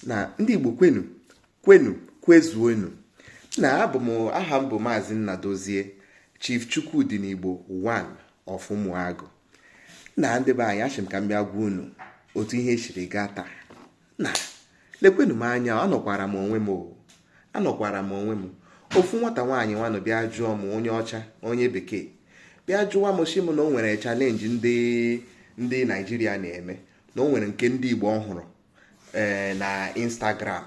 na ndị Igbo kwenu kwenu kwezuonu na abụ m aha m bụ maazị Nnadozie Chief Chukwudi n'Igbo 1 of Ụmụagụ na ndị be anyị ashị m ka m bịa gwa unu otu ihe siri gaa taa na lekwenu m anya anọkwara m onwe m anọkwara m onwe m ofu nwata nwaanyị nwanụ bịa jụọ m onye ọcha onye bekee bịa jụwa m sị m na o nwere chalenji ndị ndị naijiria na-eme na o nwere nke ndị Igbo ọ hụrụ eh, na Instagram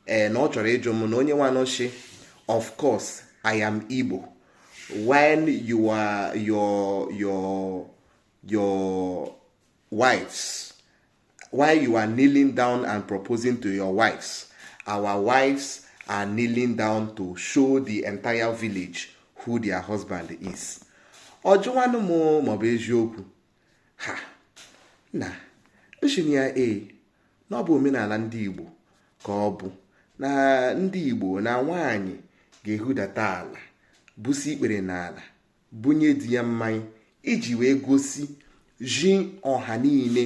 eh, na ọ chọrọ ịjụ m na onye nwa nshi of course I am Igbo when you are your your your wives while you are kneeling down and proposing to your wives our wives are kneeling down to show the entire village who their husband is. ọ jụwanụ m ma ọ bụ eziokwu ha na nshinụ ya e na ọ bụ omenala ndị Igbo ka ọ bụ na ndị Igbo na nwaanyị ga-ehudata ala busi ikpere n'ala bunye di ya mmanya iji wee gosizi ọha niile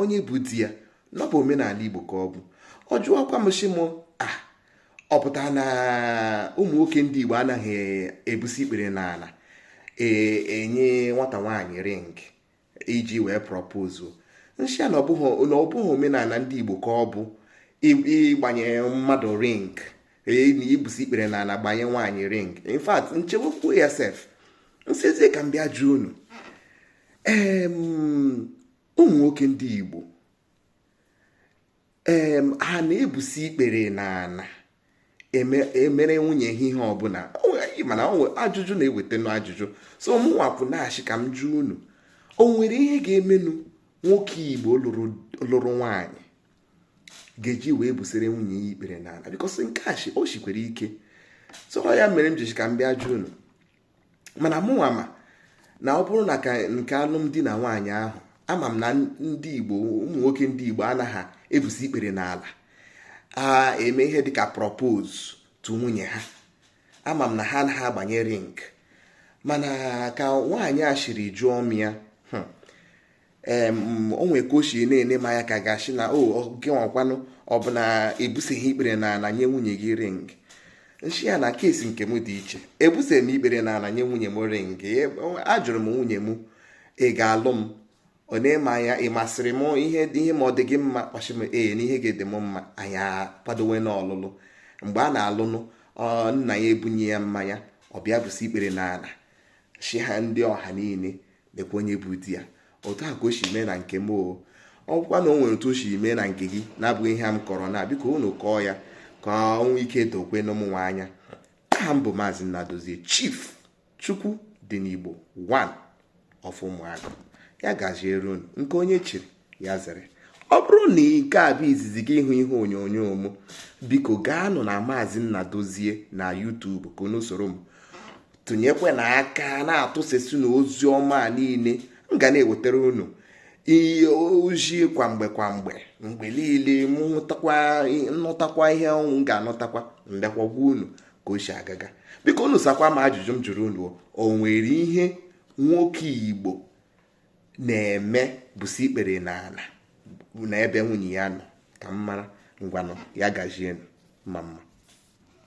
onye bụ di ya na ọ bụ omenala Igbo ka ọ bụ ọ jụọkwa m shi m ah, ọ pụtara na ụmụ nwoke ndị Igbo anaghị ebusi ikpere n'ala e, enye nwata nwaanyị ring iji wee propose nshi ya na ọ bụghị omenala ndị Igbo ka ọ bụ ịgbanye mmadụ ring e, na ibusi ikpere n'ala gbanye nwaanyị ring in fact nchewekwu ya sef nsizie ka m bịa jụọ unu ụmụ nwoke ndị Igbo ee ha na-ebusi ikpere n'ala emere e nwunye ha ihe ọbụla mana ajụjụ na-ewetanụ ajụjụ so mụnwakwu na-ashị ka m jụọ unu o nwere ihe ga-emenụ nwoke igbo lụrụ nwaanyị ga-eji wee busere nwunye ya ikpere n'ala because nke a o shikwara ike so ya mere m ji shi ka m bịa jụọ unu mana mụnwa ma na ọ bụrụ na nke alụmdi na nwaanyị ahụ ama m na ndị igbo ụmụ nwoke ndị igbo anaghị ebusi ikpere n'ala a eme ihe dịka propose to nwunye ha ama m na ha anaghị agbanye ring mana ka nwaanyị a shiri jụọ m ya hmm, o nwere ka o si na-ene m anya ka a ga-ashi na o oh, gịnwakwanụ ọ bụ na i busighị ikpere na ala nye nwunye gị ring nshi ya na keesi nke m dị iche ebusighị m ikpere na ala nye nwunye m ring e, ajụrụ m nwunye m ị ga-alụ m ọ nee m anya ị masịrị m ihe ihe ma ọ dị gị mma ọ shi m ee na ihe ga-adị m mma anyị akwadowenụ ọlụlụ mgbe a na-alụnụ nna ya ebunye ya mmanya ọ bịa busi ikpere na ala shi ha ndị ọha niile lekwa onye bụ di ya otu a ka o si mee na nke m o ọkwa na o nwere otu o si mee na nke gị na-abụghị ihe m kọrọ na biko unu kọọ ya ka o nwee ike dokwuo n'ụmụnwa anya aha m bụ maazị Nnadozie chief chukwu dị n'Igbo one of Ụmụagụ ya gaziere unu nke onye chiri ya zere ọ bụrụ na nke a bụ izizi gị ịhụ ihe onyonyo m biko gaanụ na maazị Nnadozie na YouTube ka unu soro m tụnyekwa na aka na-atụsasị na ozi ọma niile m ga na-ewetara unu ozi kwa mgbe kwa mgbe mgbe niile m nụtakwa ihe m ga-anụtakwa m bịakwa gwa unu ka o si agaga biko unu sakwa m ajụjụ m jụrụ unu o nwere ihe nwoke Igbo na-eme gbusi ikpere na ala na ebe nwunye ya nọ ka m mara ngwanụ ya gazienụ mma mma